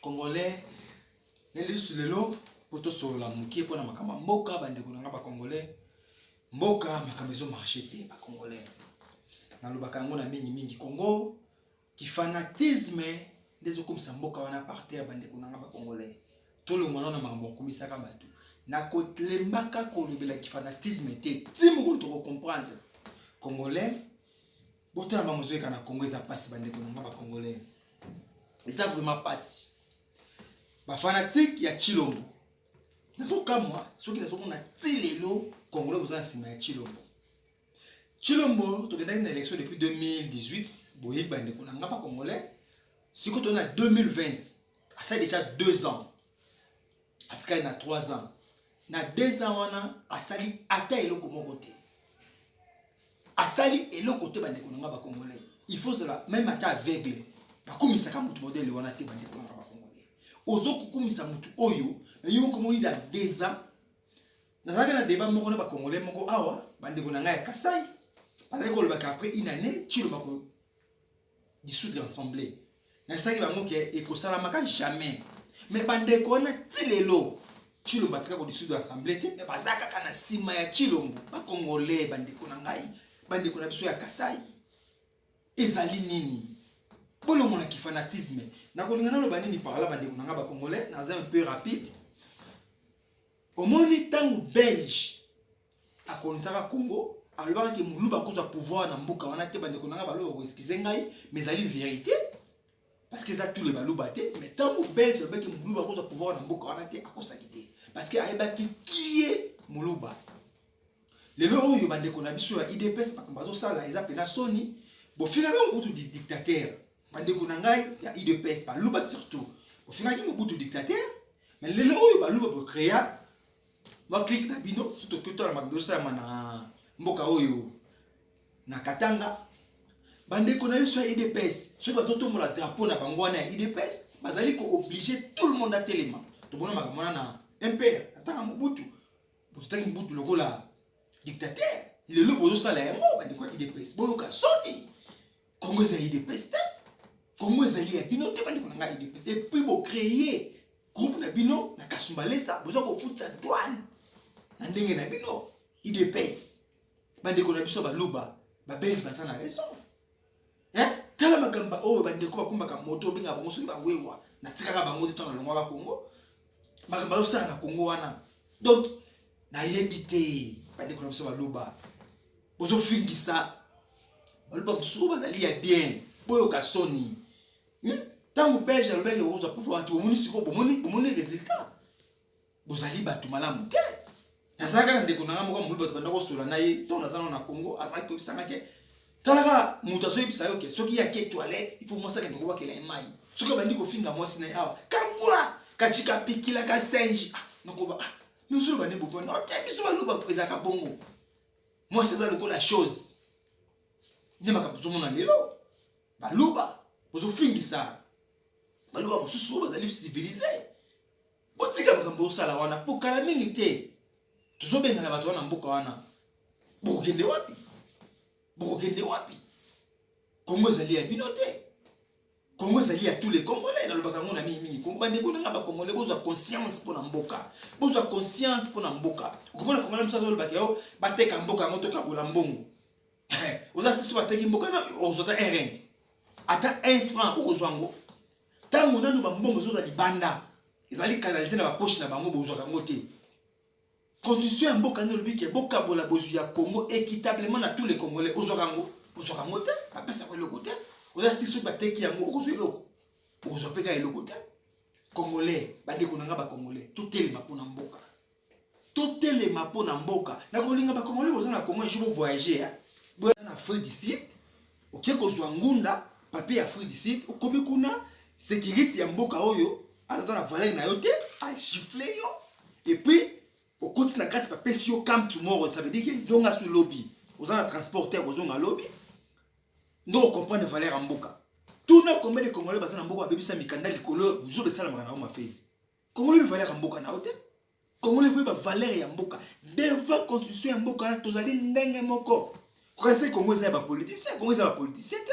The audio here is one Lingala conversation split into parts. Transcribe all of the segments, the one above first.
Congolais na lisusu lelo mpo tosolola moke mpo na makambo ya mboka, bandeko na ngai bacongolais. Mboka makambo ezo marche te bacongolais, nalobaka yango na mingi mingi. Congo kifanatisme nde ezokomisa mboka wana par terre, bandeko na ngai bacongolais. Tolongwa na makambo okumisaka bato na kolembaka kolobela kifanatisme te, ti mokolo tokocomprendre congolais botala makambo ezoyeka na congo eza mpasi bandeko na nga bacongolais eza vraiment mpasi bafanatike ya chilombo nazokamwa soki nazomona ti lelo congolais boza na nsima ya chilombo chilombo tokendaki na élection depuis 2018 boyebi bandeko na nga bacongolais sikoyo tozali na 2020 asali deja 2 ans atikali na 3 ans na 2 ans wana asali ata eloko moko te asali eloko te bandeko na nga bacongolais il faut ozala meme ata aveugle bakumisaka motu modele wana te bandeko na nga bacongolais ozokukumisa motu oyo nayo mokomoni na 2 ans nazalaki na deba moko na bacongolais moko awa bandeko na ngai ya kasai bazali kolobaka après une année ciloba dissoudre assemblée nasalaki bango ke ekosalamaka jamais me bandeko wana ti lelo chilombo atika kodissoudre assemblée te me baza kaka na nsima ya chilombo bakongole bandeko na ngai bandeko na biso ya kasai ezali nini bolongola kifanatisme nakolinga naloba nini parla bandeko na ngai bakongole naza un peu rapide omoni ntango belge akonisaka Congo alobaka ke muluba akozwa pouvoir na mboka wana te bandeko na ngai baluba bakoeskize ngai mais ezali verité parce que eza tous les baluba te mais ntango belge alobaki muluba akozwa pouvoir na mboka wana te akosaki te parce que ayebaki kie muluba lelo oyo bandeko na biso ya idps makambo azosala eza mpena soni bofingaka mobutu dictateur bandeko na ngai ya idps baluba surtout bofingaki mobutu dictateur mais lelo oyo baluba bocrea mwa clique na bino soki tokoki otala makambo ezosalama na mboka oyo na katanga bandeko na biso ya idps soki bazotombola drapeau na bango wana ya idps bazali kooblige tout le monde atelema tomona makambo wana na mpr atanga mobutu bototangi mobutu lokola dictateur lelo bozosala yango bandeko ya idps boyoka soni kongo eza idps te kongo ezali ya bino te bandeko na ngai idps epuis bocreye groupe na bino na kasumbalesa boza kofutisa douane na ndenge na bino idps bandeko na biso baluba babelge baza na raison eh? tala makambo oyo bandeko bakumbaka moto obenga bango soki bawewa natikaka bango te ntango nalongwaka kongo makambo ayosala na kongo wana donc nayebi te bandeko na biso baluba bozofingisa baluba mosusu bazali ya bien boyoka soni hmm? ntango belge alobaki okozwa pouvoir bato bomoni sikoyo bomoni bomoni résultat bozali bato malamu te nazalaka na ndeko na ngai moko mobulu bato banda kosola na ye ntango naza nao na congo azalaki koyebisanga ke talaka moto azoyebisa yo ke soki yake toilette il faut mwasi akende kobakela ye mai soki abandi kofinga mwasi na ye awa kabwa kacika pikila kasenji ah, nakoba ah, nozoloba nde boponi ote biso baloba ezalaka bongo mwasi eza lokola chose nde makambo tozomona lelo Baluba ozo fingisa baluba mosusu oyo bazali civilise botika makambo osala wana po kala mingi te tozobengana bato wana mboka wana bokokende wapi bokokende wapi kongo ezali ya bino te kongo ezali ya tous les congolais nalobaka yango na mingi mingi kongo bandeko nanga bacongolais bozwa conscience mpo na mboka bozwa conscience mpo na mboka okomona congolais mosusu azolobaka yo bateka mboka yango tokabola mbongo oza sisi bateki mboka na okozwa ata un rent ata un franc okozwa yango ntango nano bambongo ezola libanda ezali kanalize na baposhi na bango bozwaka yango te constitution ya mboka nde olobi ke bokabola bozwi ya congo équitablement na tous les congolais ozwaka yango ozwaka yango te bapesaka eloko te oza sisi soki bateki yango okozwa eloko okozwa mpe kaka eloko te congolais bandeko na ngai bacongolais totelema mpona mboka totelema mpo na mboka na kolinga bakongoli boza na kongo ejo bovoyage ya boya na afrique du sud oke kozwa ngunda papier ya afrique du sud okomi kuna sekirite ya mboka oyo azata na valere na yo te agifle yo epuis okoti na kati bapesi yo cam tomorrow ça veut dire ke zonga su lobi oza na transport te kozonga lobi nde okomprendre valere ya mboka tuna combien de congolais baza na mboka babebisa mikanda likolo buzoba esalamaka na yango mafesi Congolais veut valeur ya mboka na ote. Congolais veut ba valeur ya mboka. Devant constitution ya mboka na tozali ndenge moko. Kokanisa Congo eza ya ba politiciens, Congo eza ba politiciens te.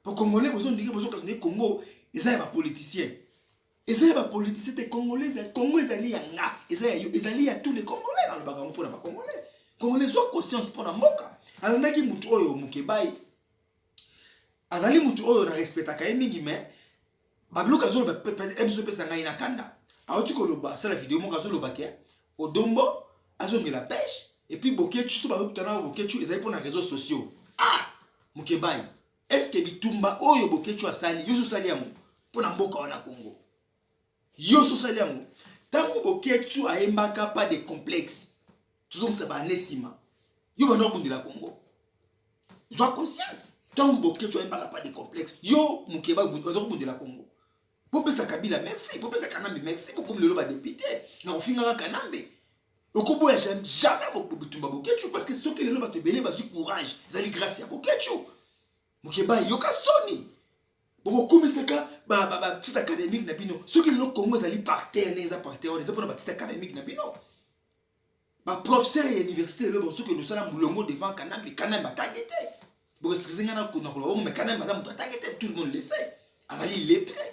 Po Congolais bozo ndike bozo kanisa Congo eza ya ba politiciens. Eza ya ba politiciens te Congolais eza Congo ezali ya nga, eza ya yo, ezali ya tous les Congolais na lobaka ngo pona ba Congolais. Congolais zo conscience pona mboka. Alandaki mutu oyo Mukebayi. Azali mutu oyo na respectaka ye mingi mais Babiloka azoloba ebiso epesa ngai na kanda. Auti koloba asala video moko azoloba ke Odombo azongela pêche et puis Boketshu so bakutana na Boketshu ezali mpo na réseaux sociaux. Ah! Mukebayi, est-ce que bitumba oyo Boketshu asali yo osali yango mpo na mboka wana Congo? Yo osali yango ntango Boketshu ayembaka pas de complexe tozongisa bana nsima yo bana obundela Congo zwa conscience ntango boketsho ayembaka pas de complexe yo mokeba oza kobundela kongo bopesa kabila merci bopesa kanambe merci bokomi lelo badepute na kofingaka kanambe okoboya jamais bitumba boketsho parce que soki lelo bato ebele bazwi courage ezali grâce ya boketsho mokeba yoka soni bokokumisaka batite académique na bino soki lelo kongo ezali parterre ndenge eza parterre wana eza mpona batite académique na bino ba professeur ya université lelo bazoki nosala mulongo devant kanambe kanambe atangi te boeskize ngai nakona koloba bongo mais kanambe aza moto atangi te tout le monde le sait azali illettré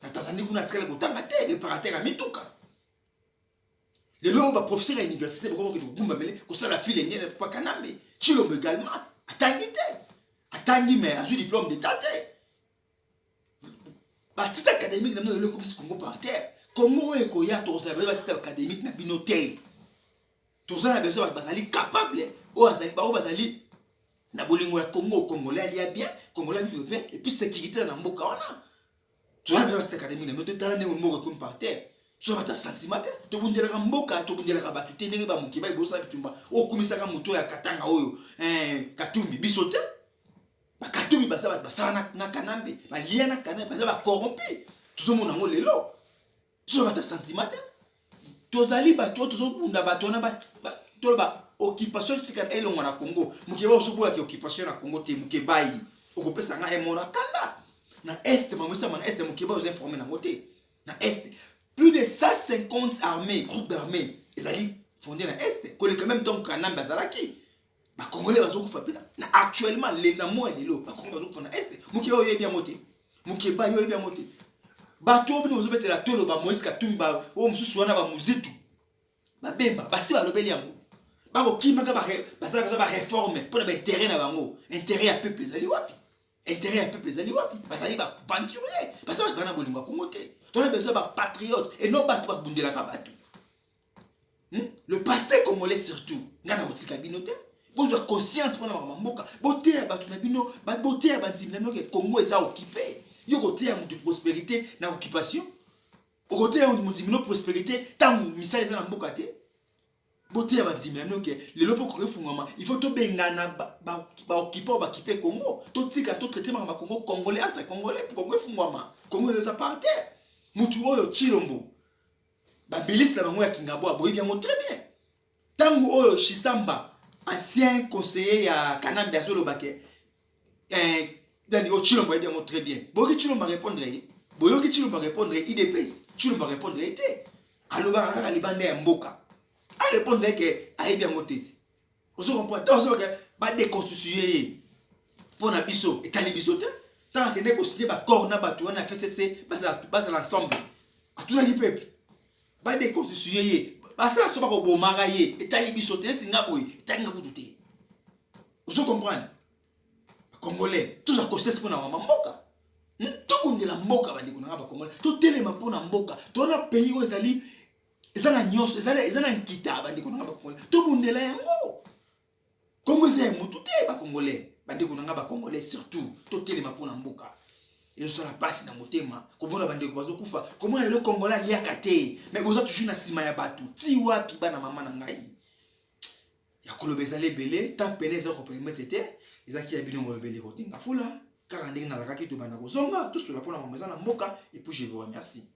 na tanzanie kuna atikala kotanga te reparateur ya mituka lelo oyo baprofesseur ya université bakoki kokende kogumbamele kosala file nene papa kanambe chilombo également atangi te atangi mais azwi diplôme d'état te batite académique na bino lelo ekomisi congo par terre congo oyo ekoya tokozala baye batite académique na bino te toza na besoin bato bazali capable oyo baoyo bazali na bolingo ya congo congolais alia bien congolais vivre bien epuis sécurité na mboka wana toza na besoin batite académique na bino te tala ndenge moko ekomi par terre soki bata sentiment te tobundelaka mboka tobundelaka bato te ndenge bamoke baebosaka bitumba okumisaka moto ya katanga oyo eh, katumbi biso te bakatomi baza bato basala na kanambe balia na kanambe baza bacorrompi tozomona yango lelo toza bato ya sentiment te tozali bato oyo tozobunda bato wana toloba occupation esika elongwa na congo mokeba ozoboyaka occupation na congo te mokebayi okopesa ngai emona kanda na est mamesama na est mokeba oza informe nango te na est plus de 150 armées groupe d'armées ezali fonde na est koleka meme ntango kanambe azalaki ba congolais bazo kufa pe na actuellement le na moya lelo ba congolais bazo kufa na est mokeba oyo yebi yango te mokeba yo yebi yango te bato oyo bino bazo betela tolo ba Moïse Katumbi ba oyo mosusu wana ba muzitu ba bemba basi balobeli yango bakokimaka basala baza bareforme mpo na baintere na bango intere ya peuple ezali wapi intere ya peuple ezali wapi bazali baventurier basala bana bolingo ya kongo te tona besoin bapatriote e non bato babundelaka bato hmm? le pasteur congolais surtout ngai nakotika bino te bozwa conscience mpona makambo ya mboka boteya bato na bino boteya bandimi na bino ke congo eza okipe yo koteya moto prosperité na occupation okoteya mondimi bino prosperité ntango misala eza na mboka te boteya bandimi na bino ke lelo mpo koki efungwama il faut tobengana baokipe oyo bakipe congo totika totraite makambo ya congo congolais entre congolais mpo congo efungwama congo elo eza par terre motu oyo chilombo Babiliste na bango ya Kingabwa boyebi yango très bien. Tango oyo Shisamba ancien conseiller ya Kanambe azoloba ke eh, Dani o oh, Chilombo ayebi yango très bien. Boyoki Chilombo répondre ye. Boyoki Chilombo répondre IDPS. Chilombo répondre ye te. Alobaka kaka libanda ya mboka. A répondre ke ayebi yango te. ozo comprendre ntango azobaka badeconstitue ye mpo na biso etali biso te ntango akendeki kosigne baccord na bato wana ya fcc bazala ensemble atunaki peuple badeconstitue ye basala so bakobomaka ye etali biso te neti nga boye etali nga kutu te ozo comprendre congolais toza conscience mpo na mama mboka hmm? tobundela mboka bandeko na nga bacongolais totelema mpo na mboka towana pays oyo ezali eza na nyonso eza na nkita bandeko na nga bakongole tobundela yango kongo eza ya motu te bakongole bandeko na nga bakongole surtout totelema mpo na mboka ezosala mpasi na motema komona bandeko bazokufa komona lelo kongola aliaka te me boza toujours na nsima ya bato ti wapi bana mama na ngai ya koloba ezali ebele temps pene eza kopermete te ezalaki ya bino molobeli kotenga fula kaka ndenge nalakaki tobanda kozonga tosola mpo na mama eza na mboka epuis je vous remercie